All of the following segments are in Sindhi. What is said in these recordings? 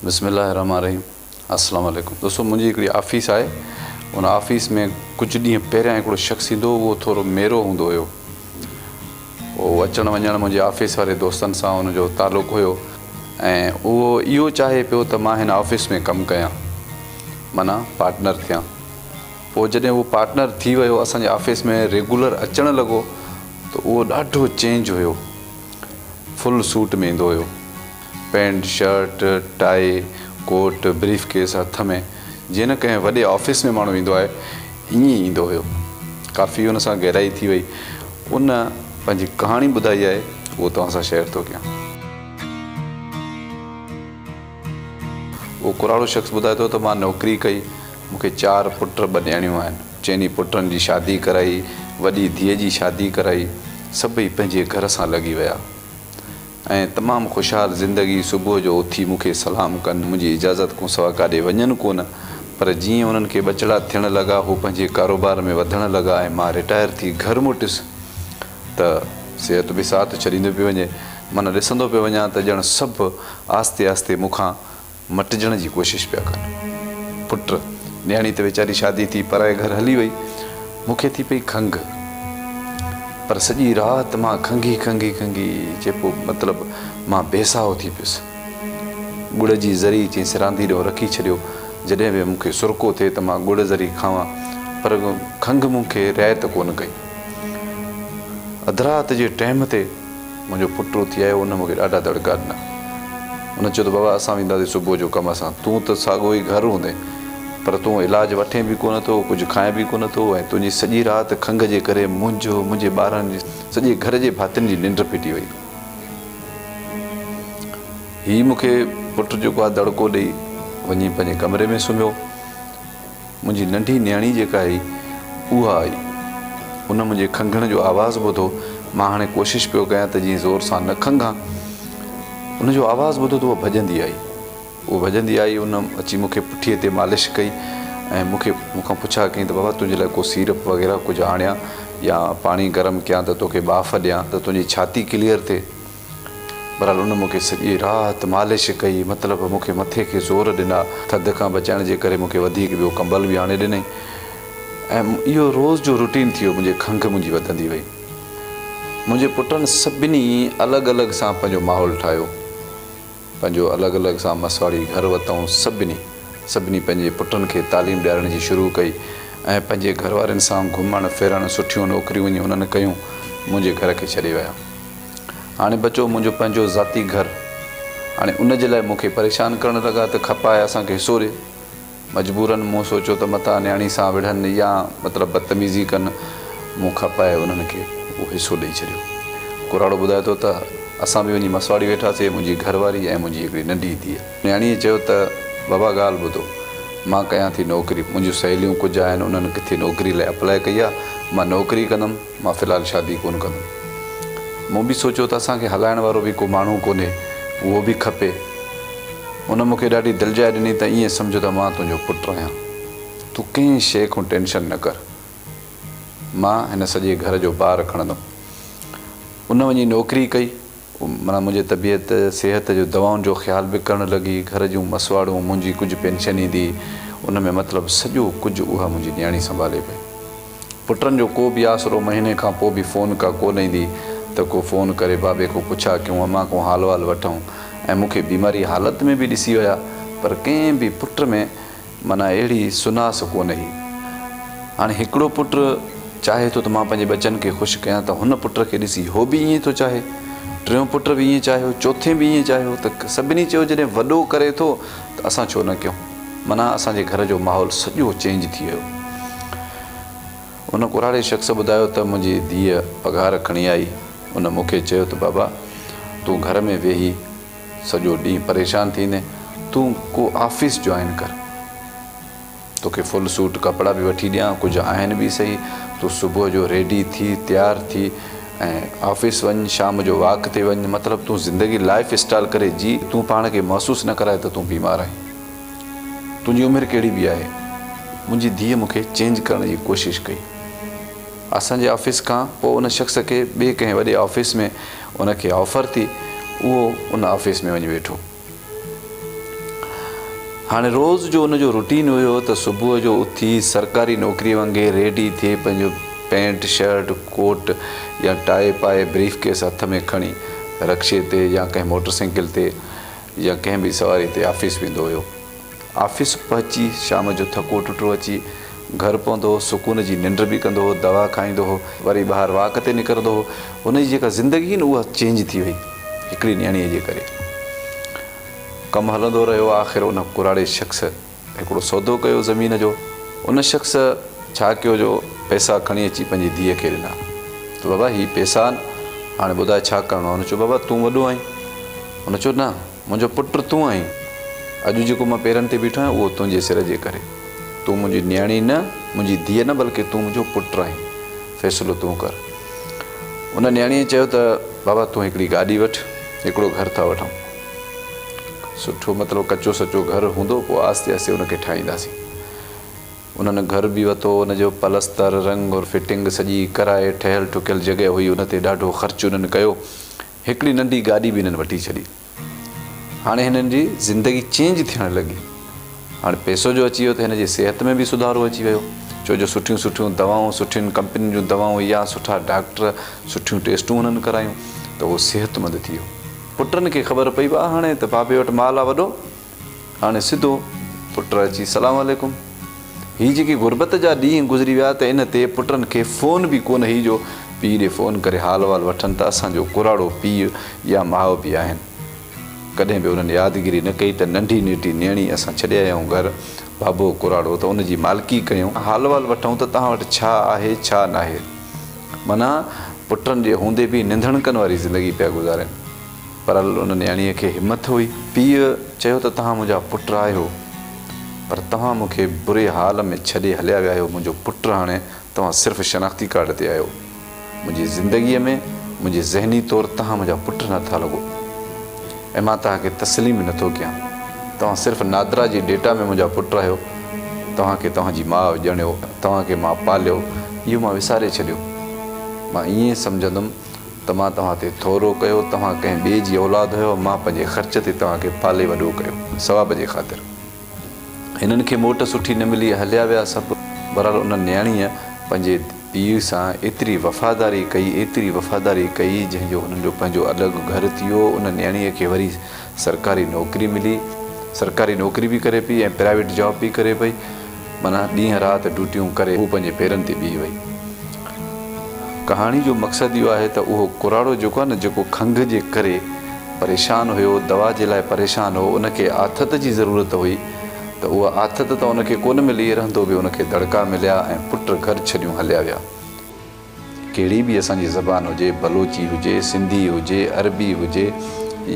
بسم الله الرحمٰن الرحيم السلام عليڪم دوستو منهنجي هڪڙي آفيس آهي ان آفيس ۾ ڪجهه ڏينهن پهريان هڪڙو شخص ايندو هو اهو ٿورو ميرو هوندو هيو هو اچڻ وڃڻ منهنجي آفيس واري دوستن سان ان جو تعلق هيو ۽ اهو اهو چاهي پيو ته مان هن آفيس ۾ ڪم ڪيان معنيٰ پارٽنر ٿيان پوء جڏهن اهو پارٽنر ٿي ويو اسان جي آفيس ۾ ريگولر اچڻ لڳو ته اهو ڏاڍو چينج هيو فل سوٽ ۾ ايندو هيو pant, shirt, tie, coat, briefcase هٿ ۾، جيئن نه ڪنهن وڏي آفيس ۾ ماڻهو ايندو آهي، ائين ئي ايندو هيو. ڪافي هن سان گهرائي ٿي ويئي. هن پنهنجي ڪهاڻي ٻڌائي آهي، اهو توهان سان شيئر ٿو ڪيان. اهو ڪراڙو شخص ٻڌائي ٿو ته مان نوڪري ڪئي، مون کي چار پٽ ٻه نياڻيون آهن. چئني پٽن جي شادي ڪرائي، وڏي ڌيء جي شادي ڪرائي، سڀئي پنهنجي گهر سان لڳي ويا. ۽ تمام خوشحال زندگي صبح جو اٿي مون کي سلام ڪن منهنجي اجازت کون سوا ڪاڏي وڃن ڪونه پر جيئن انهن کي ٻچڙا ٿيڻ لڳا هو پنهنجي ڪاروبار ۾ وڌڻ لڳا ۽ مان رٽائر ٿي گهر موٽيس ته صحت به ساٿ ڇڏيندو پيو وڃي مان ڏسندو پيو وڃان ته ڄڻ سڀ آهستي آهستي مون کان مٽجڻ جي ڪوشش پيا ڪن. پٽ، نياڻي ته ويچاري شادي ٿي پرائي گهر هلي وئي. مون کي ٿي پئي کنگهه. پر سڄي رات مان کنگهي کنگهي کنگهي چئبو مطلب مان بي ساهو ٿي پيس. ڳڙ جي ذري چئين سراندي ڏانهن رکي ڇڏيو. جڏهن به مون کي سرڪو ٿئي ته مان ڳڙ ذري کاوان پر کنگهه مون کي رعايت ڪونه ڪئي. اڌ رات جي ٽيم تي. منهنجو پٽ اٿي آيو، ان مون کي ڏاڍا دڙڪا ڏنا. ان چيو ته بابا اسان وينداسين صبح جو ڪم سان، تون ته ساڳو ئي گهر هوندين، پر تون علاج وٺين به ڪونه ٿو، ڪجهه کائين به ڪونه ٿو ۽ تنهنجي سڄي رات کنگهه جي ڪري منهنجو، منهنجي ٻارن جي، سڄي گهر جي ڀاتين جي ننڊ ڦٽي وئي. هي مون کي پٽ جيڪو آهي دڙڪو ڏئي وڃي پنهنجي ڪمري ۾ سمهيو. منهنجي ننڍي نياڻي جيڪا هئي اها آئي. ان منهنجي کنگهڻ جو آواز ٻڌو. مان هاڻي ڪوشش پيو ڪيان ته جيئن زور سان نه کنگهان. ان جو آواز ٻڌو ته اها ڀڄندي آئي. اها ڀڄندي آئي ان اچي مون کي پٺيء تي مالش ڪئي ۽ مون کي مون کان پڇا ڪيائين ته بابا تنهنجي لاء ڪو سيرپ وغيره ڪجهه آڻيان يا پاڻي گرم ڪيان ته توکي ٻاڦ ڏيان ته تنهنجي ڇاتي ڪليئر ٿئي. بھرحال ان مون کي سڄي رات مالش ڪئي، مطلب مون کي مٿي کي زور ڏنا، ٿڌ کان بچائڻ جي ڪري مون کي وڌيڪ ٻيو ڪمبل به آڻي ڏنئي ۽ اھو روز جو روٽين ٿي ويو، منھنجي کنگھ منھنجي وڌندي وئي. منھنجي پٽن سڀني الڳ الڳ سان پنھنجو ماحول ٺاھيو. پنهنجو الڳ الڳ سان مسواڙي گهر وتئون سڀني سڀني پنهنجي پٽن کي تعليم ڏيارڻ جي شروع ڪئي ۽ پنهنجي گهر وارين سان گهمڻ ڦرڻ سٺيون نوڪريون وڃي هنن ڪيون منهنجي گهر کي ڇڏي ويا هاڻي بچو منهنجو پنهنجو ذاتي گهر هاڻي ان جي لاء مون کي پريشان ڪرڻ لڳا ته کپائي اسان کي حصو ڏي. مجبوراً مون سوچيو ته متان نياڻي سان وڙهن يا مطلب بدتميزي ڪن، مون کپائي انهن کي اهو حصو ڏئي ڇڏيو. ڪراڙو ٻڌائي ٿو ته، اسان به وڃي مسواڙي ويٺاسي، منهنجي گهر واري ۽ منهنجي هڪڙي ننڍي ڌيء. نياڻيء چيو ته، بابا ڳالهه ٻڌو، مان ڪيان ٿي نوڪري، منهنجون سهيليون ڪجهه آهن، انهن ڪٿي نوڪري لاء اپلاء ڪئي آهي، مان نوڪري ڪندم، مان في الحال شادي ڪونه ڪندم. مون به سوچيو ته اسان کي هلائڻ وارو به ڪو ماڻهو ڪونهي، اهو به کپي. ان مون کي ڏاڍي دلجاء ڏني ته ائين سمجهه ته مان تنهنجو پٽ آهيان. تون ڪنهن شيء کان ٽينشن نه ڪر. مان هن سڄي گهر جو بار کڻندم. ان وڃي نوڪري ڪئي معنيٰ منهنجي طبيعت صحت جو دوائن جو خيال به ڪرڻ لڳي گهر جون مسواڙون منهنجي ڪجهه پينشن ايندي ان ۾ مطلب سڄو ڪجهه اها منهنجي نياڻي سنڀالي پئي پٽن جو ڪو به آسرو مهيني کان پو به فون ڪا ڪو نه ايندي ته ڪو فون ڪري بابي کون پڇا ڪيون امان کون حال وال وٺون ۽ مونکي بيماري حالت ۾ به ڏسي ويا پر ڪنهن به پٽ ۾ معنيٰ اهڙي سناس ڪونه هئي. هاڻي هڪڙو پٽ چاهي ٿو ته مان پنهنجي ٻچن کي خوش ڪيان ته هن پٽ کي ڏسي هو به ائين ٿو چاهي. ٽيون پٽ به ائين چاهيو، چوٿين به ائين چاهيو ته سڀني چيو جڏهن وڏو ڪري ٿو ته اسان ڇو نه ڪيون. معنيٰ اسان جي گهر جو ماحول سڄو چينج ٿي ويو. ان ڪوراڙي شخص ٻڌايو ته منهنجي ڌيء پگهار کڻي آئي. ان مون کي چيو ته بابا تون گهر ۾ ويهي. سڄو ڏينهن پريشان ٿيندين تون ڪو آفيس جوائن ڪر توکي فل سوٽ ڪپڙا به وٺي ڏيان ڪجهه آهن به سهي تون صبح جو ريڊي ٿي تيار ٿي ۽ آفيس وڃ شام جو واڪ تي وڃ مطلب تون زندگي لائف اسٽال ڪري جي تون پاڻ کي محسوس نه ڪرائي ته تون بيمار آهين تنهنجي عمر ڪهڙي به آهي منهنجي ڌيء مونکي چينج ڪرڻ جي ڪوشش ڪئي اسان جي آفيس کان پوء ان شخص کي ٻي ڪنهن وڏي آفيس ۾ ان کي آفر ٿي اهو ان آفيس ۾ وڃي ويٺو. هاڻي روز جو ان جو روٽين هيو ته صبح جو اٿي سرڪاري نوڪري وانگي ريڊي ٿي پنهنجو پينٽ شرٽ ڪوٽ يا ٽاء پائي بريف ڪيس هٿ ۾ کڻي رڪشي تي يا ڪنهن موٽر سائيڪل تي يا ڪنهن ٻي سواري تي آفيس ويندو هيو. آفيس پهچي شام جو ٿڪو ٽٽو اچي گهر پوندو هو، سڪون جي ننڊ به ڪندو هو، دوا کائيندو هو، وري ٻاهر واڪ تي نڪرندو هو، هن جي جيڪا زندگي هئي نه اها چينج ٿي وئي هڪڙي نياڻيء جي ڪري. ڪم هلندو رهيو آخر ان ڪراڙي شخص هڪڙو سودو ڪيو زمين جو، ان شخص ڇا ڪيو جو پئسا کڻي اچي پنهنجي ڌيء کي ڏنا ته بابا هي پئسا آهن هاڻي ٻڌاء ڇا ڪرڻو آهي، هن چيو بابا تون وڏو آهين، هن چيو نه. منهنجو پٽ تون آهين. اڄ جيڪو مان پيرن تي بيٺو آهيان اهو تنهنجي سر جي ڪري. تون منهنجي نياڻي نه، منهنجي ڌيء نه بلڪه تون منهنجو پٽ آهين. فيصلو تون ڪر. ان نياڻيء چيو ته بابا تون هڪڙي گاڏي وٺ، هڪڙو گهر ٿا وٺون. سٺو مطلب ڪچو سچو گهر هوندو پوء آهستي آهستي ان کي ٺاهينداسين. انهن گهر به وتو، ان جو پلستر، رنگ اور فٽنگ سڄي ڪرائي ٺهيل ٺڪيل جڳهه هئي ان تي ڏاڍو خرچ انهن ڪيو. هڪڙي ننڍي گاڏي به هنن وٺي ڇڏي. هاڻي هنن جي زندگي چينج ٿيڻ لڳي. هاڻي پئسو جو اچي ويو ته هن جي صحت ۾ به سڌارو اچي ويو. ڇو جو سٺيون سٺيون دوائون، سٺين ڪمپنين جون دوائون يا سٺا ڊاڪٽر، سٺيون ٽيسٽون هنن ڪرايون ته هو صحتمند ٿي ويو. پٽن کي خبر پئي وا هاڻي ته بابي وٽ مال آ وڏو. هاڻي سڌو پٽ اچي سلام عليڪم. هي جيڪي غربت جا ڏينهن گذري ويا ته ان تي پٽن کي فون به ڪونه هئي جو پيء ڏي فون ڪري حال وال وٺن ته اسان جو ڪراڙو پيء يا ماء به آهن. ڪڏهن به انهن يادگيري نه ڪئي ته ننڍي نيٽي نيڻي اسان ڇڏي آيا آهيون گهر ڀاڀو ڪراڙو ته ان جي مالڪي ڪيون. حال وال وٺون ته توهان وٽ ڇا آهي ڇا ناهي. معنيٰ پٽن جي هوندي به ننڌڻڪن واري زندگي پيا گذارين. پر ان نياڻيء کي همٿ هئي. پيء چيو ته توهان منهنجا پٽ آهيو، پر توهان مون کي بري حال ۾ ڇڏي هليا ويا آهيو. منهنجو پٽ هاڻي توهان صرف شناختي ڪارڊ تي آهيو. منهنجي زندگيء ۾ منهنجي ذهني طور توهان منهنجا پٽ نه ٿا لڳو ۽ مان توهان کي تسليم به نه ٿو ڪيان. توهان صرف نادرا جي ڊيٽا ۾ منهنجا پٽ آهيو. توهان کي توهان جي ماء ڄڻيو، توهان کي مان پاليو، اهو مان وساري ڇڏيو. مان ائين سمجهندم ته مان توهان تي ٿورو ڪيو، توهان ڪنهن ٻئي جي اولاد هيؤ، مان پنهنجي خرچ تي توهان کي پالي وڏو ڪيو، ثواب جي خاطر. هنن کي موٽ سٺي نه ملي، هليا ويا سڀ. بهرحال ان نياڻيء پنهنجي پيء سان ايتري وفاداري ڪئي، ايتري وفاداري ڪئي، جنهن جو هنن جو پنهنجو الڳ گهر ٿي ويو، ان نياڻيء کي وري سرڪاري نوڪري ملي سرڪاري نوڪري به ڪري پئي ۽ پرائيويٽ جاب به ڪري پئي معنيٰ ڏينهن رات ڊيوٽيون ڪري هو پنهنجي پيرن تي بيهي وئي ڪهاڻي جو مقصد اهو آهي ته اهو ڪراڙو جيڪو آهي نه جيڪو کنگهه جي ڪري پريشان هيو دوا جي لاء پريشان هو ان کي آٿت جي ضرورت هئي ته اها آٿت ته ان کي ڪونه ملي رهندو به ان کي دڙڪا مليا ۽ پٽ گهر ڇڏيون هليا ويا. ڪهڙي به اسان جي زبان هجي، بلوچي هجي، سنڌي هجي، عربي هجي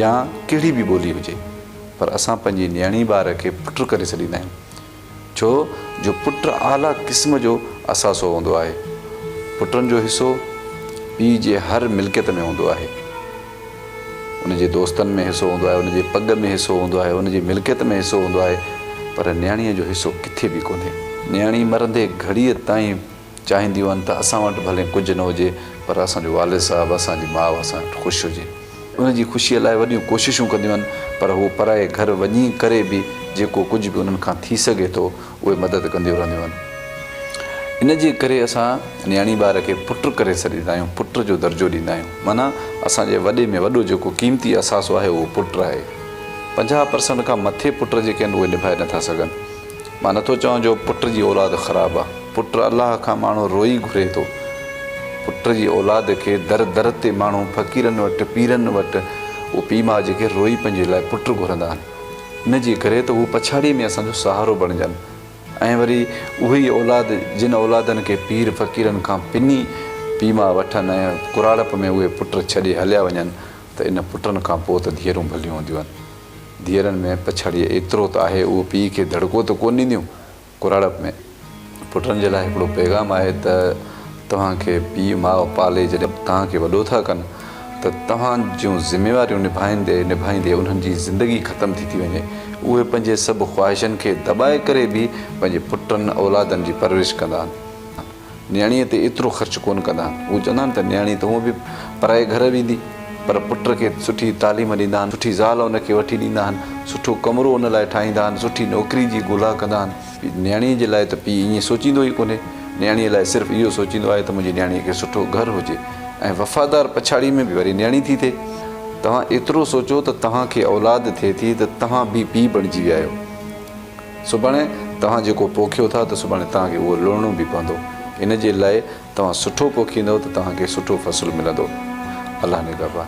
يا ڪهڙي به ٻولي هجي پر اسان پنهنجي نيڻي ٻار کي پٽ ڪري سڏيندا آهيون ڇو جو پٽ اعليٰ قسم جو اثاثو هوندو آهي. پٽن جو حصو پيء جي هر ملڪيت ۾ هوندو آهي. ان جي دوستن ۾ حصو هوندو آهي، ان جي پڳ ۾ حصو هوندو آهي، ان جي ملڪيت ۾ حصو هوندو آهي پر نيڻيء جو حصو ڪٿي به ڪونهي. نيڻي مرندي گهڙيء تائين چاهينديون هن ته اسان وٽ ڀلي ڪجهه نه هجي پر اسان جو والد صاحب، اسان جي ماء اسان وٽ خوش هجي. ان جي خوشيء لاء وڏيون ڪوششون ڪنديون هن پر هو پرائي گهر وڃي ڪري به جيڪو ڪجهه به انهن کان ٿي سگهي ٿو اهي مدد ڪنديون رهنديون هن. ان جي ڪري اسان نياڻي ٻار کي پٽ ڪري سڏيندا آهيون، پٽ جو درجو ڏيندا آهيون. معنيٰ اسان جي وڏي ۾ وڏو جيڪو قيمتي اثاثو آهي اهو پٽ آهي. پنجاهه پرسنٽ کان مٿي پٽ جيڪي آهن اهي نڀائي نه ٿا سگهن. مان نٿو چوان جو پٽ جي اولاد خراب آ پٽ الله کان ماڻهو روئي گهري ٿو پٽ جي اولاد کي در در تي ماڻهو فقيرن وٽ پيرن وٽ اهي پي ماء جيڪي روئي پنهنجي لاء پٽ گهرندا آهن ان جي ڪري ته هو پڇاڙي ۾ اسان جو سهارو بڻجن ۽ وري اهي ئي اولاد جن اولادن کي پير فقيرن کان پني پي ماء وٺن ۽ ڪراڙپ ۾ اهي پٽ ڇڏي هليا وڃن ته ان پٽن کان پوء ته ڌيئرون ڀليون هونديون آهن ڌيئرن ۾ پڇاڙيء ايترو ته آهي، اهو پيء کي دڙڪو ته ڪونه ڏينديون؟ ڪراڙپ ۾، پٽن جي لاء هڪڙو پيغام آهي ته توهان کي پيء ماء پالي جڏهن توهان کي وڏو ٿا ڪن ته توهان جون ذميواريون نڀائيندي نڀائيندي انهن جي زندگي ختم ٿي ٿي وڃي. اهي پنهنجي سڀ خواهشن کي دٻائي ڪري به پنهنجي پٽن اولادن جي پرورش ڪندا آهن. نياڻيء تي ايترو خرچ ڪونه ڪندا آهن. هو چوندا آهن ته نياڻي ته هونئن به پرائي گهر ويندي، پر پٽ کي سٺي تعليم ڏيندا آهن، سٺي زال ان کي وٺي ڏيندا آهن، سٺو ڪمرو ان لاء ٺاهيندا آهن، سٺي نوڪري جي ڳولا ڪندا آهن. نياڻيء جي لاء ته پيء ائين سوچيندو ئي ڪونهي. نياڻيء لاء صرف اهو سوچيندو آهي ته منهنجي نياڻيء کي سٺو گهر هجي ۽ وفادار پڇاڙيء ۾ به وري نياڻي ٿي ٿئي. توهان ايترو سوچو ته توهان کي اولاد ٿئي ٿي ته توهان به پيء بڻجي ويا آهيو. سڀاڻي توهان جيڪو پوکيو ٿا ته سڀاڻي توهان کي اهو لڻڻو به پوندو. ان جي لاء توهان سٺو پوکيندؤ ته توهان کي سٺو فصل ملندو. الله نگهبان.